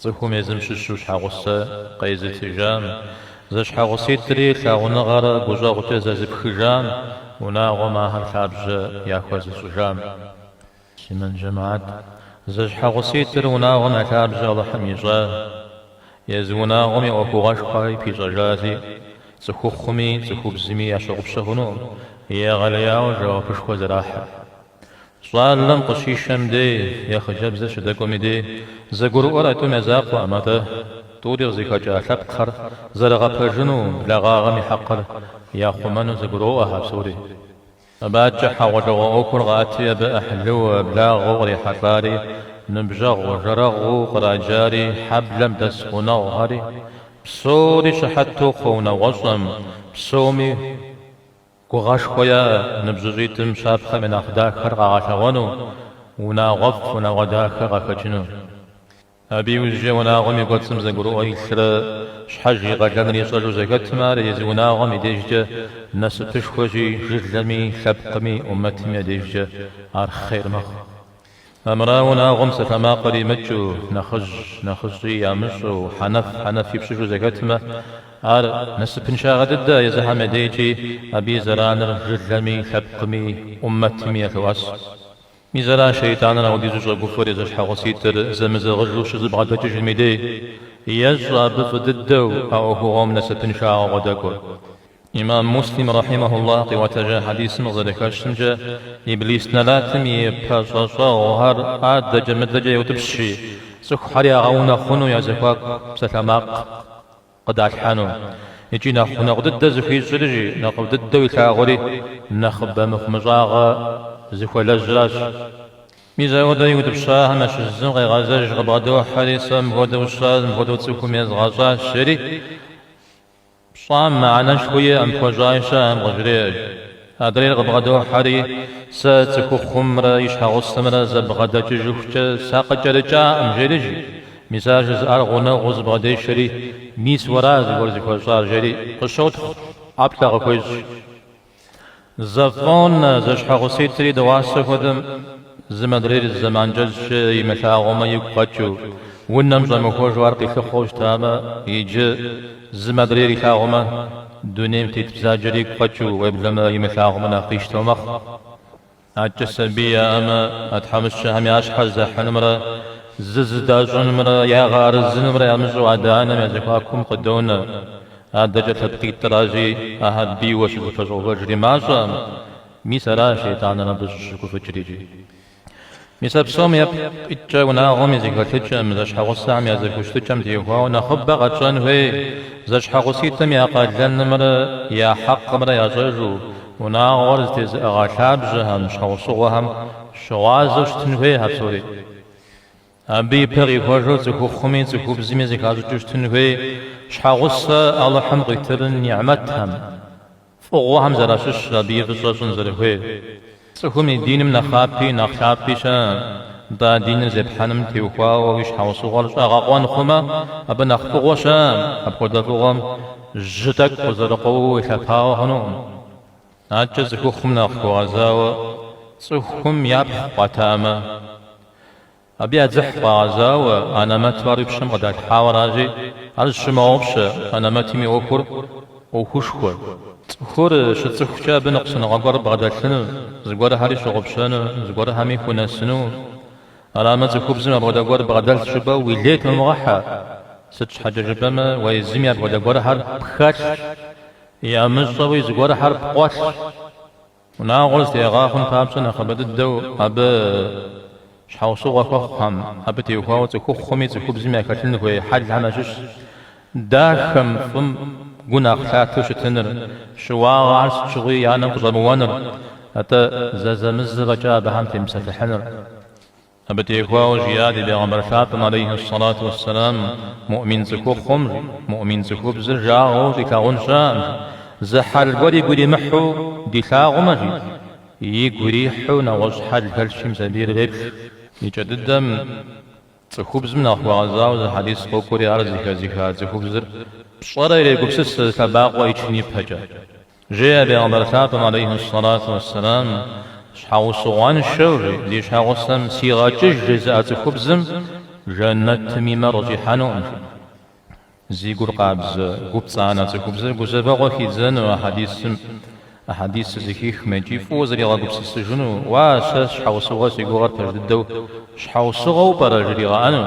Цӏыхум езым щыщу щхьэгъусэ къезытыжам, зэщхьэгъуситӏри лъагъуныгъэрэ гущӏэгъукӏэ зэзыпхыжам, унагъуэм ахэр лъабжьэ яхуэзыщӏыжам. Симэн джэмаӏат, зэщхьэгъуситӏыр унагъуэм я лъабжьэ Алыхьым ищӏа, езы унагъуэм и ӏуэхугъуэшхуэри пищӏэжащи, цӏыхухъуми цӏыхубзми ящыгъупщэ хъунукъым, егъэлеяуэ жэуапышхуэ зэрахьыр. Щӏалэм къыщишэм дей, е хъыджэбзыр щыдэкӏуэм и дей, зэгурыӏуэр а тӏум я закъуэкъым, атӏэ, тӏури къызыхэкӏа лъэпкъхэр зэрыгъэпэжыну, благъагъэм и хьэкъыр яхъумэну зэгуроӏуэхэ псори. Абыкӏэ хьэгъуэлӏыгъуэ ӏуэхур къаӏэтри абы ӏыхьлыу, благъэу кърихьэлӏари, ныбжьэгъу, жэрэгъуу къраджари, хьэблэм дэс гъунэгъухэри, псори щыхьэт тохъуэ унагъуэщӏэм, псоми, Гугъэшхуэ яӏэ ныбжьыщӏитӏым щапхъэм я нэхъ дахэр къагъэлъэгъуэну, унагъуэфӏ, унагъуэ дахэ къахэкӏыну. Абы иужькӏэ унагъуэм и кӏуэцӏым зэгурыӏуэ илърэ щхьэж и къалэныр ищӏэжу зэхэтмэ, ар езы унагъуэм и дежкӏэ насыпышхуэщи, жылэми, лъэпкъми, ӏумэтми я дежкӏэ ар хъер мэхъу. Армырауэ унагъуэм псалъэмакъыр имыкӏыу, нэхъыжь нэхъыщӏи ямыщӏэу, хьэнэф хьэнэф и пщыжу зэхэтмэ, ар насыпыншагъэ дыдэ езыхэм я дейкӏи, абы и зэраныр жылэми, лъэпкъми, ӏуммэтми ялъоӏэс. Мис ара шейтӏаныр ауэдизу щӏэгуфӏэр зэщхьэгъуситӏыр зэмызэгъыжу щызэбгъэдэкӏыжым и дей, ещӏэ абы фӏы дыдэу а ӏуэхугъуэм насыпыншагъэу къыдэкӏуэр. Имам Муслим рэхьимэхуллахь къиӏуэтэжа хьэдисым къызэрэхэщымкӏэ, Иблис нэлатым и пэщӏэщӏэгъухэр адэкӏэ мыдэкӏэ еутӏыпщри, цӏыхухэр ягъэунэхъуну я зэхуаку псалъэмакъ къыдалъхьэну. Икӏи нэхъ гъунэгъу дыдэ зыхуищӏри, нэхъыфӏ дыдэу илъагъури нэхъыбэ мыхъумыщӏагъэ зыхуэлэжьращ. Мис ауэдэ иутӏыпщахэм ящыщ зым къегъэзэж къыбгъэдохьэри, сэ мыпхуэдэу сщӏащ, мыпхуэдэу цӏыхум езгъэщӏащ, жери. Пщӏам мыхьэнэшхуэ иӏэм пхуэщӏа щыӏэм къыжреӏэж. Адрейр къыбгъэдохьэри, сэ цӏыхухъумрэ и щхьэгъусэмрэ зэбгъэдэкӏыжыхукӏэ сакъыкӏэрыкӏакъым, жери. Мис ар жызыӏар гъунэгъуу зыбгъэдешэри, мис уэра зыгуэр зыхуэщӏар, жери, къыщотхъу, ӏэплӏэ къыхуещӏ. Зэфӏонэ зэщхьэгъуситӏри дыгъуасэ хуэдэм зым модрейр зы зэман кӏэщӏкӏэ имылъагъумэ игу къэкӏыу, унэм щӏэмыхуэжу ар къилъыхъуэу щытамэ, иджы, зым модрейр илъагъумэ, дунейм тет бзаджэр игу къэкӏыу, уеблэмэ, имылъагъумэ нэхъ къищтэу мэхъу. Адэкӏэ сабий яӏэмэ, а тхьэмыщкӏэхэм я щхьэр зэхьынымрэ зызыдащӏынымрэ ягъэарэзынымрэ ямыщӏэу адэ-анэм я зэхуакум къыдонэ. Адэкӏэ лъэпкъитӏращи, ахэр бийуэ щызэпэщӏэувэжри мащӏэкъым. Мис аращ шейтӏаныр абы щыщыгуфӏыкӏрикӏи. Мис а псом ипкъ иткӏэ унагъуэм и зэхэлъыкӏэм, зэщхьэгъусэхэм я зэхущытыкӏэм теухуауэ нэхъыбэ къэтщӏэн хуей, зэщхьэгъуситӏым я къалэнымрэ я хьэкъымрэ ящӏэжу, Унагъуэр зэтезыӏыгъэ лъабжьэхэм, щхьэусыгъуэхэм щыгъуазэу щытын хуей а псори. Абы и пэ къихуэжу цӏыхухъуми цӏыхубзми зэхащӏыкӏыу щытын хуей щхьэгъусэ Алыхьым къитырын нигьмэтхэм, фӏыгъуэхэм зэращыщыр абы и фӏыщӏэ щӏын зэрыхуейр. Цӏыхум и диным нэхъапи нэхъ лъапӏи щыӏэ, нтӏэ а диныр зепхьэным теухуауэ уи щхьэусыгъуэр щӏэгъэкъуэн хъумэ, абы нэхъ фӏыгъуэ щыӏэ апхуэдэ фӏыгъуэм? Жьы тӏэкӏу къызэрыкъуэууэ уелъэпауэ хъунукъым. Адэкӏэ цӏыхухъум нэхъ хуэгъэзауэ цӏыхум япхъу къуатамэ, абы я дзыхь къуагъэзауэ, анэмэту ар уи пщэм къыдалъхьауэ аращи, ар зыщумыгъэгъупщэ, анэмэтым и ӏуэхур ӏуэхушхуэ. Цӏыхур щыцӏыхукӏэ абы ныкъусыныгъэ гуэр бгъэдэлъыну, зыгуэрхэри щыгъупщэну, зыгуэрхэми хунэсыну. Арамэ цӏыхубзым апхуэдэ гуэр бгъэдэлъщ жыпӏэу уи лей тумыгъэхьэ, сыт щхьэкӏэ жыпӏэмэ уэ езыми апхуэдэ гуэрхьэр пхэлъщ, ямыщӏэуи зыгуэрхьэр пкъуэлъщ. Унагъуэр зэтеӏыгъа хъун папщӏэ нэхъыбэ дыдэу абы щхьэусыгъуэ хуэхъухэм, абы теухуауэ цӏыхухъуми цӏыхубзми яхэлъын хуей хьэлхэм ящыщщ. Дахэм, фӏым, гу нэхъ лъатэу щытыныр, щыуагъэхэр сыт щыгъуи я нэм къыщӏэмыуэныр, атӏэ зэзэмызэ фӏэкӏа абыхэм темыпсэлъыхьыныр. Абы теухуауэ жиӏа ди Пегъэмбар лъапӏэм алейхьи ссалату уэсселам, Муӏмин цӏыхухъум, жи, муӏмин цӏыхубзыр жагъуэу щӏилъагъун щыӏэм, жи, зы хьэл гуэр игу иримыхьу дилъагъумэ, жи, игу ирихьу нэгъуэщӏ хьэл хэлъщи мис абы иреплъ. И кӏэ дыдэм. Цӏыхубзым нэхъ хуэгъэзауэ зы хьэдис къокӏуэри ар зыхэзыха цӏыхубзыр пщӏэрэ ирегупсысэ зы лъэбакъуэ ичын ипэкӏэ. Жеӏэ Пегъэмбар лъапӏэм алейхьи ссалату уэсселам, Щхьэусыгъуэншэу жи, зи щхьэгъусэм сигъэкӏыж жызыӏэ цӏыхубзым жэнэтым и мэр къыщӏихьэнукъым, жи. Зи гур къабзэ, гу пцӏанэ цӏыхубзыр гузэвэгъуэ хидзэну а хьэдисым, а хьэдисыр зыхихмэ икӏи фӏыуэ зригъэгупсысыжыну, уа, сэ щхьэусыгъуэ си гугъэр пэж дыдэу щхьэусыгъуэу пӏэрэ жригъэӏэну?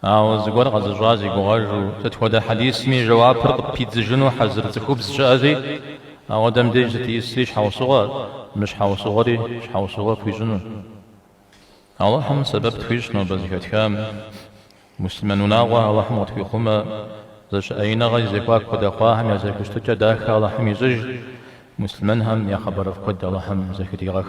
Ауэ зыгуэр къэзыщӏа зи гугъэжу, сыт хуэдэ хьэдисми жэуапыр къыппидзыжыну хьэзыр цӏыхубз щыӏэзи, ауэдэм деж сыт исри щхьэусыгъуэ, мыщхьэусыгъуэри щхьэусыгъуэ пхуищӏыну? Алыхьым сэбэп тхуищӏ нобэ зыхэтхам. Муслъымэн унагъуэ Алыхьым къытхуихъумэ, зэщыӏеиныгъэ и зэхуаку къыдэ хъуахэм я зэхущытыкӏэ дахэ Алыхьым ищӏыж, муслъымэнхэм я хъыбарыфӏ куэд Алыхьым зэхыдигъэх.